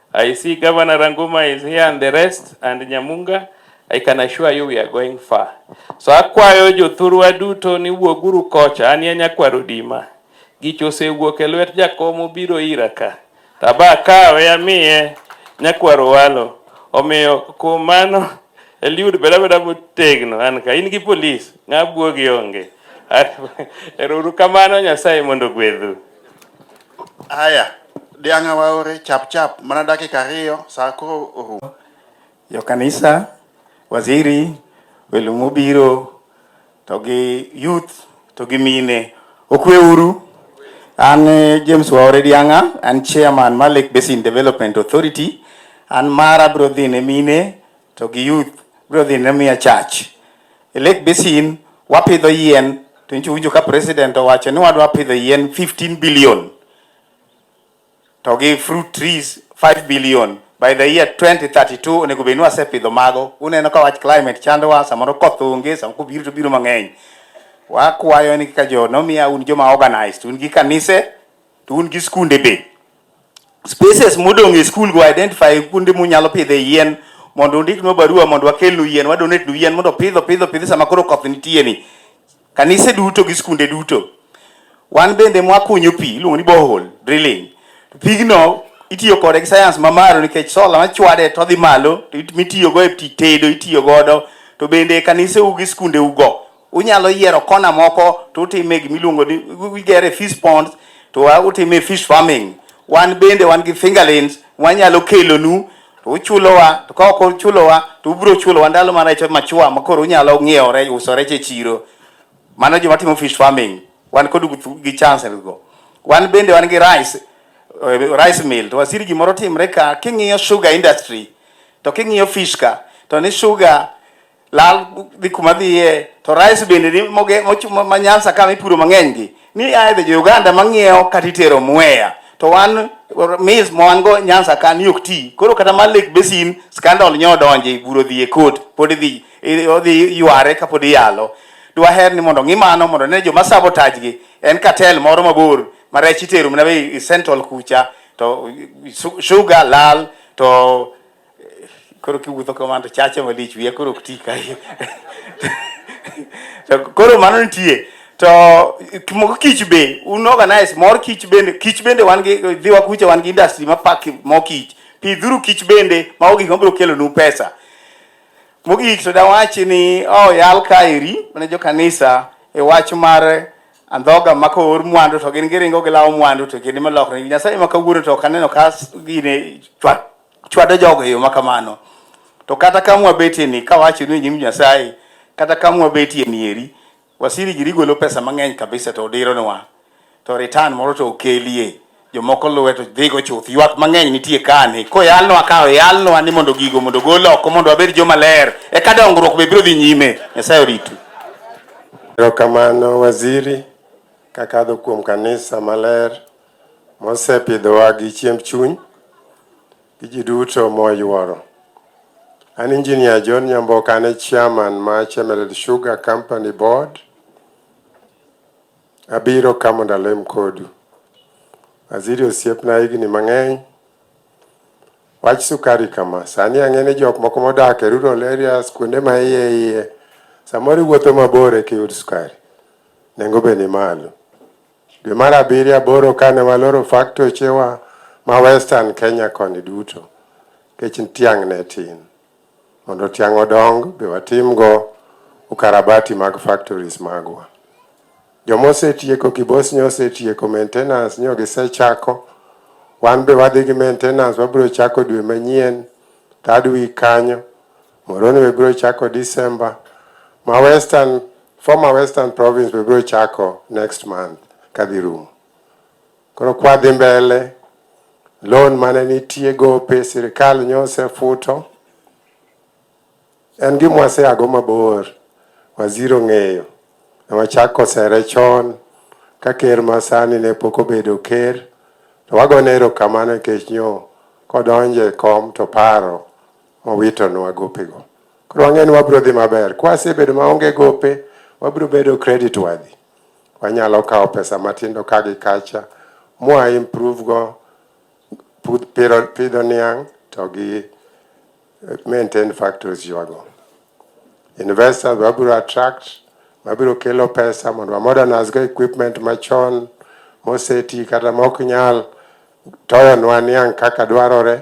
I see Governor Ranguma is here and the rest and Nyamunga. I can assure you we are going far. So akwayo jothurwa duto ni wuoguru kocha an ya nyakwaro dima. Gich osewuok e lwet jakom obiro ira ka. Taba kawe amiye nyakwaro walo. Omiyo kuom mano Eliud beda beda motegno an ka in gi polis ng'a buogi onge. Erouru kamano Nyasaye mondo gwedhu. Aya, dianga waore chap chap mana dakika ariyo saa koro orumo. Jo kanisa, waziri, welo mobiro to gi youth to gi mine okwe uru. An eh, James Waore Dianga, an chairman mar Lake Basin Development Authority. An mara biro dhi ne mine to gi youth biro dhi ne miya chach. E Lake Basin wapidho yien to nyicho winjo ka president owacho ni wadwa pidho yien 15 billion to gi fruit trees 5 billion by the year 2032 onego bed ni wasepidho mago. Uneno ka wach climate chandowa, samoro koth onge, samoro kobiro to biro mang'eny. Wakwayo ni kaka jo nomiya un joma organized, un gi kanise to un gi skunde be spaces modong' e skul go identify kuonde munyalo pidhe yien mondo undiknwa barua mondo wakelnu yien wadonetnu yien mondo pidho pidho pidho sama koro koth nitie ni kanise duto gi skunde duto wan bende mwakunyo pi iluongo ni bohol drilling pigno itiyo kode gi sayans mamalo nikech sola machwade to dhi malo mitiyogo e tedo itiyo godo to bende kanise u gi skunde ugo Unyalo yiero kona moko to utime gima iluongo ni wigere fish ponds to utime fish farming. Wan bende wan gi fingerlings wanyalo kelonu to uchulowa to ka ok uchulowa to ubiro chulowa ndalo ma rech machua ma koro unyalo ng'iewo rech uso rech e chiro. Mano joma timo fish farming wan kod gi chance go. Wan bende wan gi rice eh, rice mill to wasiri gimoro timre ka king'iyo sugar industry to king'iyo fish ka to ni sugar lal dhi kuma dhiye to rice bende ni moge mochuma ma Nyanza kama ipuro mang'eny gi ni aidha jo Uganda mang'iewo kata itero Mwea to wan maize ma wan go Nyanza ka ni ok ti koro kata mar Lake Basin scandal nyo donje buro dhi e court pod dhi i- odhi yware ka pod iyalo dwaher ni mondo ng'i mano mondo ne joma sabotage gi en cartel moro mabor ma rech itero mana be i- i central kucha to su- sugar lal to koro kiwuotho kamano to chacha malich wiya koro ok ti kae to koro mano nitie to moko kich be un organize mor kich bende kich bende wan gi dhiwa kucha wan gi industry ma pak mo kich pidhuru kich bende mago gik mabiro kelonu pesa mogik to dawachi ni oh, yal kaeri mane jo kanisa e wach mar andhoga ma koor mwandu to gin giringo gilawo mwandu to kendo malokre nyasaye ma kawuono to ok aneno ka gine chwat chwado jogo e yo ma kamano. To kata ka mwabetie ni kawacho ni nyim Nyasaye, kata ka mwabetie ni eri, wasiri giri golo pesa mang'eny kabisa to odironwa. To return moro to okelie. Jomoko luwe to dhigo chuth. Ywak mang'eny nitie kani. Koyalnwa ka oyalnwa ni mondo gigo mondo gol oko mondo wabed joma ler. Eka dongruok be biro dhi nyime. Nyasaye oritu. Erokamano waziri kakadho kuom kanisa maler. mosepidhowa gi chiemb chuny gi ji duto moyuoro. An Engineer John Nyamboka, an e chairman ma Chemelil Sugar Company Board. Abiro ka mondo alem kodu. Waziri osiepna higni mang'eny. Wach sukari kama, sani ang'e ni jok moko modak e rural areas kuonde ma iye iye, samoro iwuotho mabor eka iyud sukari. Nengo be ni malo. Dwe mar abiriyo aboro kane waloro faktoche wa ma Western Kenya koni duto, kech tiang' ne tin. Mondo tiang' odong be watimgo ukarabati mag factories magwa. Joma osetieko kibos nyo osetieko maintenance nyo gisechako. Wan be wadhi gi maintenance wabiro chako dwe manyien third week kanyo. Moro ni wibiro chako December. Ma Western, former Western province wibiro chako next month kadhi rumo. Koro kwadhi mbele, loan mane nitie gope sirikal nyose futo. En gima waseago mabor, waziri ong'eyo. Ne wachako sere chon ka ker masani ne pok obedo ker. To wagone erokamano nikech nyo kodonje kom to paro mowitonwa gopego. Koro wang'eyo ni wabiro dhi maber. Kwa sebedo maonge gope, wabiro bedo credit worthy. Wanyalo kawo pesa matindo ka gi kacha, mwa improve go pidho niang' to gi eh, maintain factories ywago. Investors wabiro attract, wabiro kelo pesa mondo wamodernize go equipment machon moseti kata mok nyal toyonwa niang' kaka dwarore.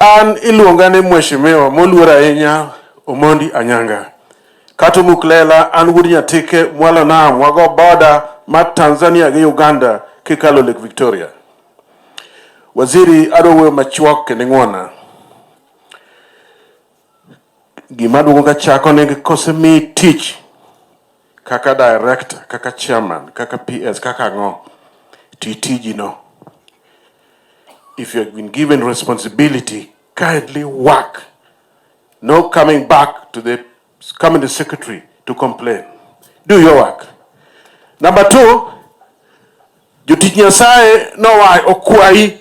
An iluonga ni Mheshimiwa moluor ahinya Omondi Anyanga. Kata omuk lela an wuod Nyatike mwalo nam wago boda ma Tanzania gi Uganda kikalo Lake Victoria. Waziri adwa wuoyo machuok kendo ing'wona. Gima duogo ka chako ni kosemi tich kaka director, kaka chairman, kaka PS, kaka ang'o, ti tijino. If you have been given responsibility, kindly work. No coming back to the coming to secretary to complain. Do your work. Number two, jotich Nyasaye nowa okwayi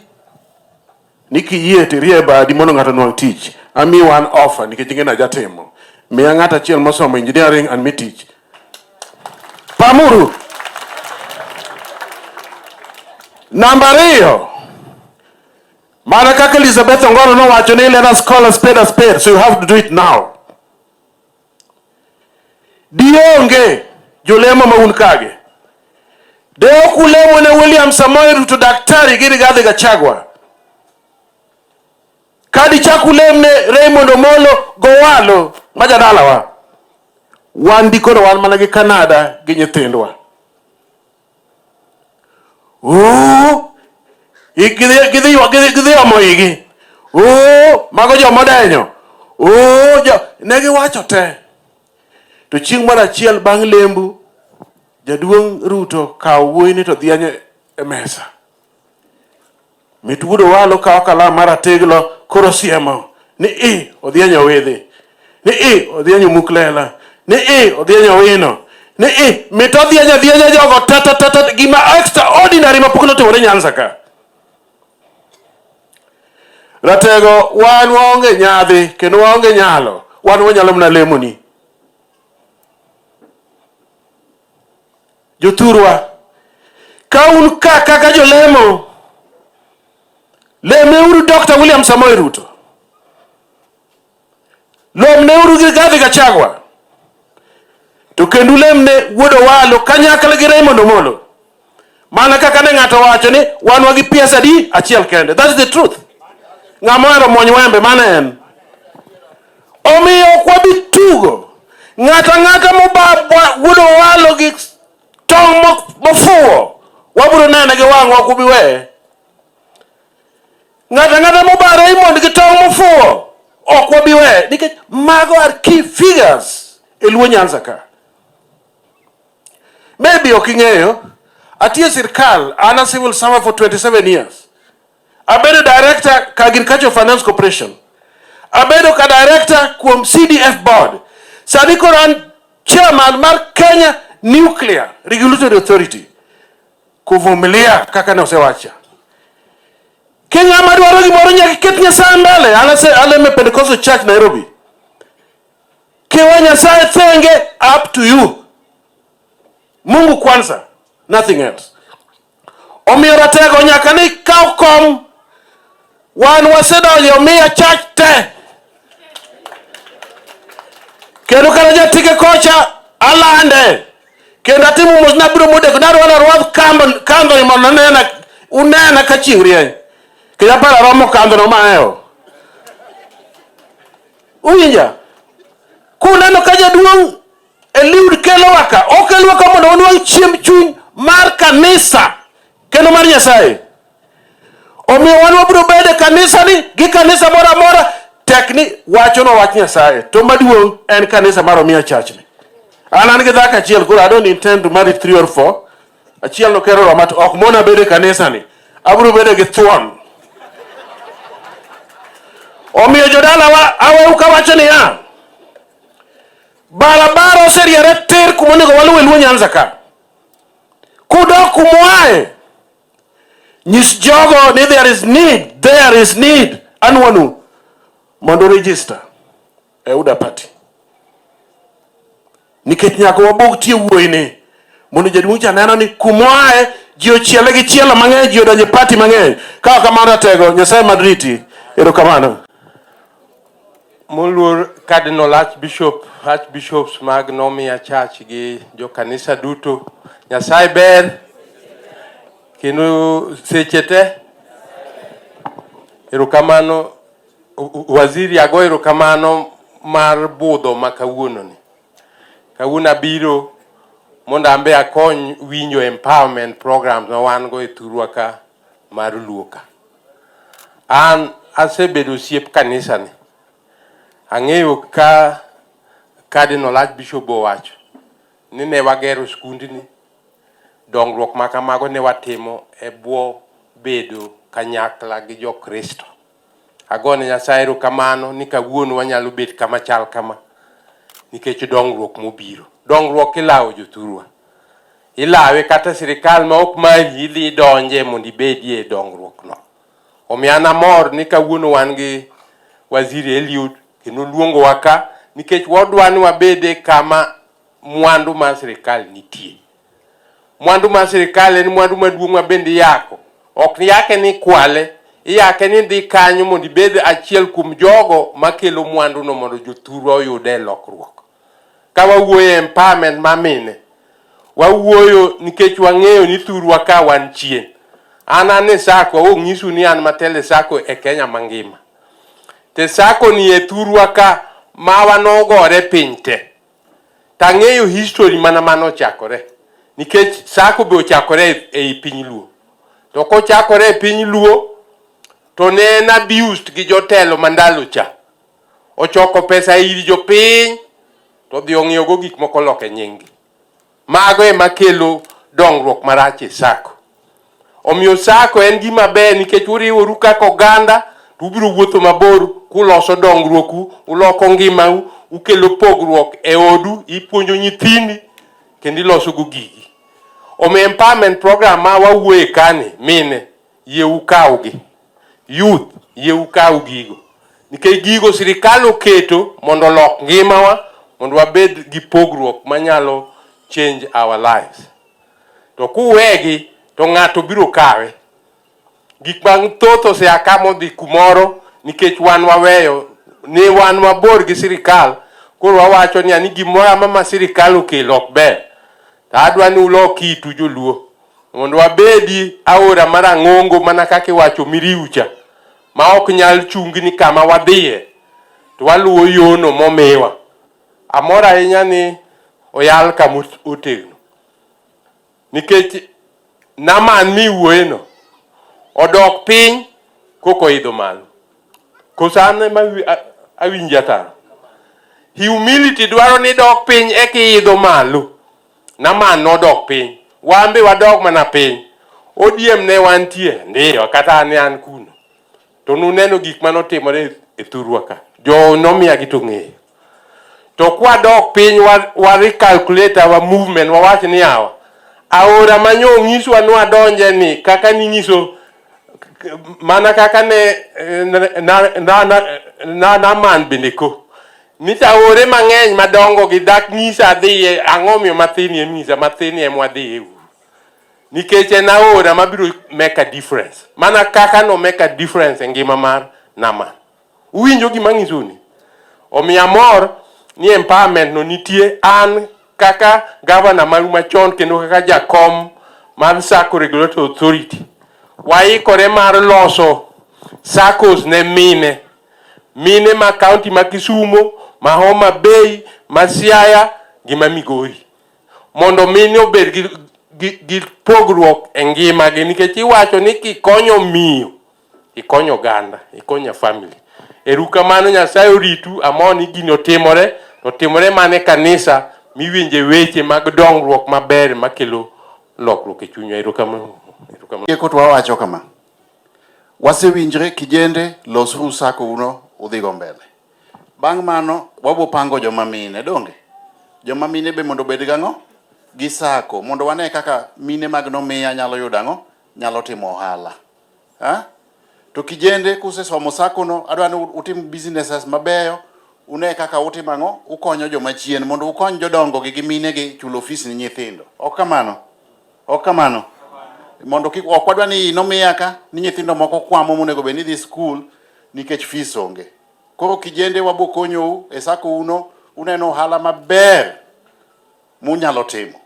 ni kiyie to irie badi mondo ng'ato onwang' tich. Amiyi one offer nikech ing'e ni ajatimo. Miya ng'ato achiel mosomo engineering and mi tich. Pamuru. Namba ariyo, mana kaka Elizabeth Ongoro nowacho ni let us call a spade a spade, so you have to do it now. Dionge jolemo ma un kage. De ok ulemo ne William Samoei Ruto daktari gi Rigathi Gachagua. Ka dichak ulem ne Raymond Omolo Gowalo ma jadalawa. Wan dikoro wan mana gi Kanada gi nyithindwa. Ooh! Gidhi gidhi gidhi gidhi omo igi. Ooh! Mago joma odenyo. Ooh! Jo, ne giwacho te. To chieng' moro achiel bang' lembu, jaduong' Ruto kawo wuoyini to dhianyo e mesa. Mit wuod Owalo kawo kalam mar ateglo koro siemo ni i odhienyo owidhi ni i odhienyo muk lela ni i odhienyo wino ni i mit odhienyo adhienya jogo tatatata gima extraordinary ma pok notimore Nyanza ka. Ratego wan waonge nyadhi kendo waonge nyalo wan wanyalo mana lemoni. Jothurwa, ka un ka kaka jolemo, lemeuru Dr. William Samoei Ruto, lomneuru gi Rigathi Gachagua, to kendo lemne Wuod Owalo kanyakla gi Raymond Omolo. Mana kaka ne ng'ato wacho ni wanwa gi piesa adi achiel kende. That is the truth. Ng'ama ohero muony wembe mano en. Omiyo ok wabi tugo. Ng'ato ang'ata mogudo walo gi tong' mofuwo wabiro nene gi wang'wa ok ubi weye. Ng'ato ang'ata mobaro imond gi tong' mofuwo ok wabi weye nikech mago are key figures e Luo Nyanza ka. Maybe ok ing'eyo, atiyo sirkal, an a civil servant for 27 years. Abedo director ka Agricultural Finance Corporation. Abedo ka director kuom CDF board. Sani koro an chairman mar Kenya Nuclear Regulatory Authority. Kuvumilia kaka ne osewacha. Kenya madwaro gimoro nyaka ket Nyasaye mbele. An a Pentecostal Church Nairobi. Kiwa Nyasaye thenge up to you. Mungu kwanza, nothing else. Omiyo ratego nyaka ni kaw kom wan wasedonjo omiya chach te kendo kata jatike kocha alande kendo atimo mos nabiro modeko narwalo arwadh kandhoni mondo nena unena ka chieng' rieny kendo aparo aromo kandhono maeo Uwinja? Kuneno ka jaduong' Eliud kelowa ka, okelowa ka mondo wanwang' chiemb chuny mar kanisa kendo mar Nyasaye. Omiyo wan wabiro bedo e kanisani gi kanisa moro amora tek ni wachono wach Nyasaye. To maduong' en kanisa mar Omiya Church ni. An an gi dhako achiel koro I don't intend to marry three or four. Achiel no kero roma ok mona bede kanisa ni. Abro bede gi thuon. Omiyo jodala wa aweu kawacho ni ya. Barabara oseriere ter kuma onego waluwe luo Nyanza ka. Kudok kumwae. Nyis jogo ni there is need, there is need. Anwanu mondo register. e UDA party nikech nyaka wabog tie wuoyi ni mondo jaduong' cha neno ni kumoae ji ochiele gi chielo mang'eny ji odonje party mang'eny kawa kamano ratego nyasaye madriti erokamano moluor cardinal archbishop archbishops mag nomia church gi jokanisa duto nyasaye ber kendo seche te erokamano Waziri ago erokamano mar budho ma kawuononi. Kawuono abiro mondo an be akony winjo empowerment programs ma wan go e thurwa ka mar Luo ka. An asebedo osiep kanisani, ang'eyo ka Cardinal Archbishop owacho ni ne wagero skundni, dongruok ma kamago ne watimo e bwo bedo kanyakla gi Jokristo. Ago ne Nyasaye erokamano ni kawuono wanyalo bet kama chal kama nikech dongruok mobiro. Dongruok ilawo jothurwa. Ilawe kata e sirikal ma ok mari idhi idonje mondo ibedie e dongruokno. Omiyo an amor ni kawuono wan gi Waziri Eliud kendo oluongowa ka nikech wadwa ni wabed e kama mwandu mar sirikal nitie. Mwandu mar sirkal en mwandu maduong' ma bende iyako. Ok yake ni kwale, iyake ni dhi kanyo mondo ibed achiel kuom jogo makelo mwanduno mondo jothurwa oyude lokruok. Ka wawuoyo e empowerment ma mine, wawuoyo nikech wang'eyo ni thurwa ka wan chien. An an e sako, awo ng'isu ni an matele sako e Kenya mangima. Te sako ni e thurwa ka mawa nogore piny te. to ang'eyo history mana mano ochakore nikech sako be ochakore ei piny Luo to kochakore e piny Luo to ne en abused gi jotelo mandalo cha ochoko pesa ir jopiny to odhi ong'iewogo gik moko loke nyinggi. Mago ema kelo dongruok marach e sako. Omiyo sako en gima ber nikech uriworu kaka oganda to ubiro wuotho mabor kuloso dongruoku, uloko ngimau, ukelo pogruok e odu, ipuonjo nyithindi kendo iloso go gigi. Omiyo empowerment program ma wawuoye kani mine yie ukawgi. Youth, yie ukaw gigo. Nikech gigo sirikal oketo mondo olok ngimawa mondo wabed gi pogruok manyalo change our lives. To kuwegi to ng'ato biro kawe. Gik mathoth osea ka modhi kumoro nikech wan waweyo ni wan mabor gi sirikal koro wawacho ni ani gimoro amama sirikal okelo ok ber. To adwa ni ulok itu joluo. mondo wabedi aora marang'ongo mana kaka iwacho miriucha ma ok nyal chungi ni kama wadhiye to waluwo yono momiwa. Amor ahinya ni oyal kama otegno nikech Naman miwuoyeno odok piny koko oidho malo. Koso an ema awinjo ataro. Humility dwaro ni dok piny eki idho malo. Naman nodok piny. Wan be wadog mana piny. ODM ne wantie, ndiyo, kata ne an kuno. To nuneno gik mane otimore e thurwa ka. Jo nomiya gi to ng'eyo. To kwadok piny wa, wa recalculate our movement, wawach ni yawa, aora manyo onyiswa ni wadonje ni kaka ninyiso mana kaka ne na, na, na, na, na, na man bende ko Misa ore mang'eny madongo gi dak nyisa adhiye ang'o miyo mathin ye misa mathin ye mwadhiye uru nikech en aora mabiro make a difference mana kaka no make a difference e ngima mar nama uwinjo gima ng'isuni omiyo amor ni empowerment no nitie an kaka gavana maru machon kendo kaka jakom mar sacco regulatory authority waikore mar loso saccos ne mine mine ma kaunti ma Kisumo, ma Homa Bay, ma Siaya gi ma Migori mondo mine obed gi, gi, gi pogruok e ngimagi nikech iwacho ni kikonyo miyo ikonyo oganda ikonyo family erukamano nyasaye oritu amor ni gini otimore otimore mane kanisa miwinje weche mag dongruok maber makelo lokruok e chunywa erukamano erukamano Tieko to wawacho kama, Wasewinjre kijende, losuru sako uno udhigo mbele. Bang' mano wabo pango joma mine donge? Joma mine be mondo obed gang'o? Gi sako mondo wane kaka mine mag nomiya nyalo yudo ang'o? Nyalo timo ohala. Ha? To kijende kusesomo sako no, adwa ni utim businesses mabeyo, une kaka utimo ang'o? Ukonyo joma chien mondo ukony jodongo gi gi mine gi chulo fees ni nyithindo. Ok kamano? Ok kamano. Mondo kik ok wadwa ni nomiya ka ni nyithindo moko kwamo monego bed ni dhi skul nikech fees onge. Koro kijende wabo konyou e sako uno uneno ohala maber munyalo timo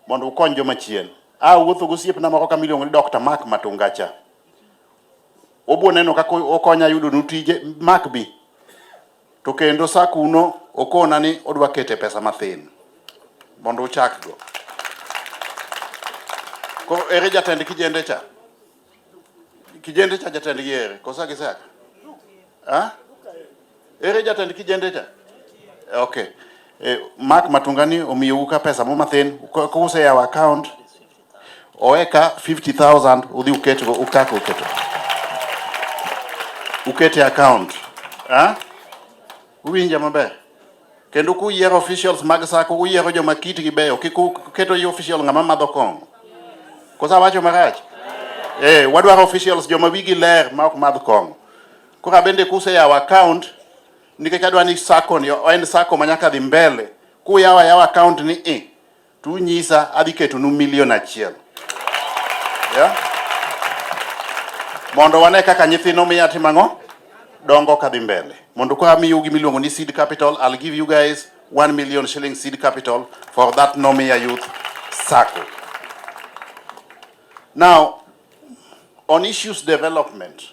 mondo ukony joma chien. A wuotho gosiepna moko kama iluongo ni Dr. Mark Matungacha. Obo neno kaka okonya yudo nu tije Mark bi To kendo sa kuno okona ni odwa kete pesa mathin mondo uchakgo. Koro ere jatend kijende cha? Kijende cha jatendgi ere? Kosa gisaka? Ha? Ere jatend kijende cha? Okay. Eh, Mark Matungani omiyou ka pesa mo mathin, kuse yawo account oweka 50000 udhi uket go ukako uketo ukete account ha uwinja maber kendo kuyiero officials mag sako uyiero joma kitgi beyo kik uketo yi official ng'ama madho kong'o kosa wacho marach eh wadwaro officials joma wigi ler ma ok madh kong'o kora bende kuseyawo account nikech adwa ni sako ni en sako ma nyaka dhi mbele kuyawo ayawa account ni i tu nyisa adhi ketonu milion achiel yeah? mondo wane kaka nyithino miya timo ang'o dongo kadhi mbele mondo ka miyo gi miluongo ni seed capital I'll give you guys 1 million shilling seed capital for that Nomia Youth Circle. Now, on issues development,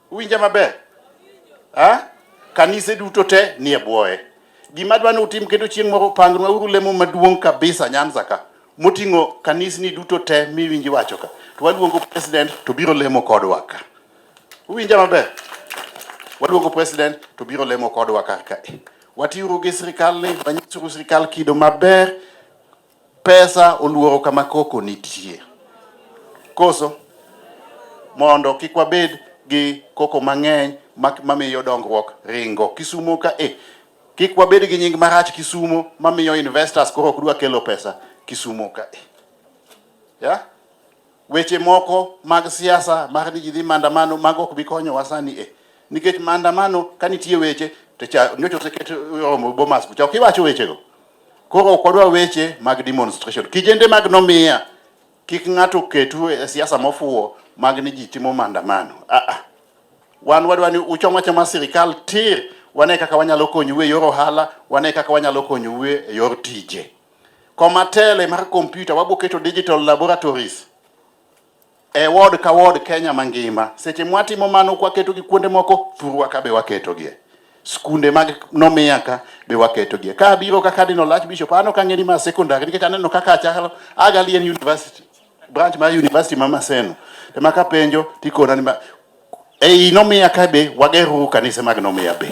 Uwinja maber? Ha? Kanise duto te nie bwoye. Gima dwa ni utim kendo chieng' moro pangnwa uru lemo maduong' kabisa Nyanza ka moting'o kanisni duto te miwinji wacho ka. To waluongo president to biro lemo kodwa ka. Uwinja maber? Waluongo president to biro lemo kodwa ka ka. Watiuru gi sirkal ni wanyisuru sirkal kido maber Pesa oluoro kama koko nitie. Koso? Mondo kik wabed gi koko mang'eny mamiyo dongruok ringo. Kisumo ka e. Kik wabed gi nying marach Kisumo mamiyo investors koro ok dwa kelo pesa Kisumo ka e. Yeah? Weche moko mag siasa mag ni ji dhi maandamano mago ok bi konyowa sani e nikech maandamano ka nitie weche to cha nyocha oseket romo Bomas kucha ok iwacho wechego. Koro ok wadwa weche mag demonstration. Kijende mag nomiya kik ng'ato ketu e siasa mofuwo mag ni ji timo maandamano. Ah, ah. Wan wadwa ni uchom achoma sirikal tir, wane kaka wanyalo konyou e yor ohala, wane kaka wanyalo konyou e yor tije. Koma tele mar kompyuta waboketo digital laboratories e ward ka ward Kenya mangima. Seche mwatimo mano kwaketo gi kuonde moko, thurwa ka be waketo gie. Skunde mag nomiya ka be waketo gie. Ka abiro ka Cardinal Archbishop, ano ka ng'eni ma secondary nikech aneno kaka achalo Agalien University, branch mar University ma Maseno. Ema kapenjo tikona ni Ei nomiya ka be wageruru kanise mag nomiya be.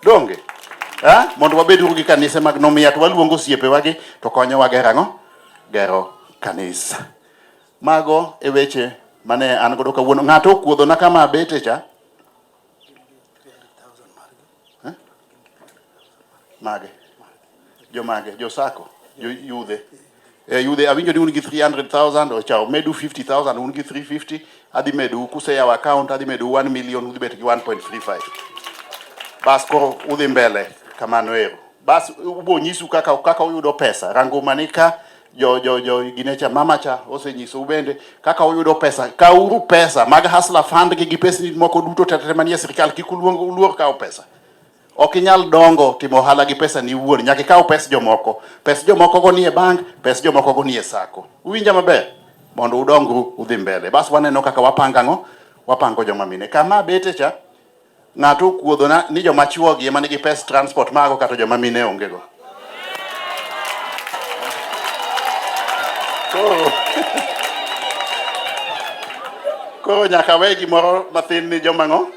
Donge? Ha? Mondo wabeduru gi kanise mag nomiya to waluongo osiepewa gi to konyowa gero ang'o? Gero kanisa. Mago e weche mane an godo kawuono. Ng'ato okuodhona kama abete cha. Eh? Mage. Jomage, josako, joyudhe. Eh, yudhe awinjo ni un gi 300,000 ochawo medu 50,000 un gi 350 adhi medu kuseyawo account adhi medu 1 million udhi bet gi 1.35 bas koro udhi mbele kamano ero bas ubo nyisu kaka kaka uyudo pesa rango manika jo jo jo gine cha mama cha osenyiso ubende kaka uyudo pesa kauru pesa mag hasla fund gi gi pesni moko duto tetere manie sirikal kik uluong uluor kawo pesa ok inyal dongo timo ohala gi pesa ni wuon nyaka ikaw pes jomoko pes jomoko go nie bank pes jomoko go nie sako uwinja maber mondo udongru udhi mbele bas waneno kaka wapanga ngo wapango joma mine kama bete cha Ng'ato okuodhona ni joma chwogi ema nigi pes transport mago kata joma mine ongego. Koro koro nyaka we gimoro mathin ni joma ng'o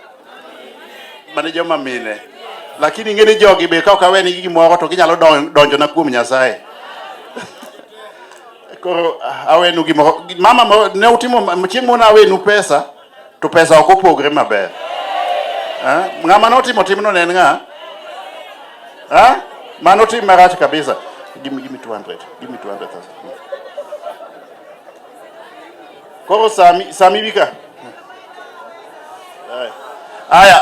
mane joma mine lakini ing'e ni jogi be kaok awe nigi gimoro to ginyalo donjo na kuom Nyasaye koro awenu gimoro mama ne utimo chieng' moro nawenu pesa to pesa ok opogre maber. Eh? Ng'ama notimo timno ne en ng'a? Eh? Mano tim marach kabisa. Give me, give me 200. Give me 200,000. Koro sami sami bika. Haya.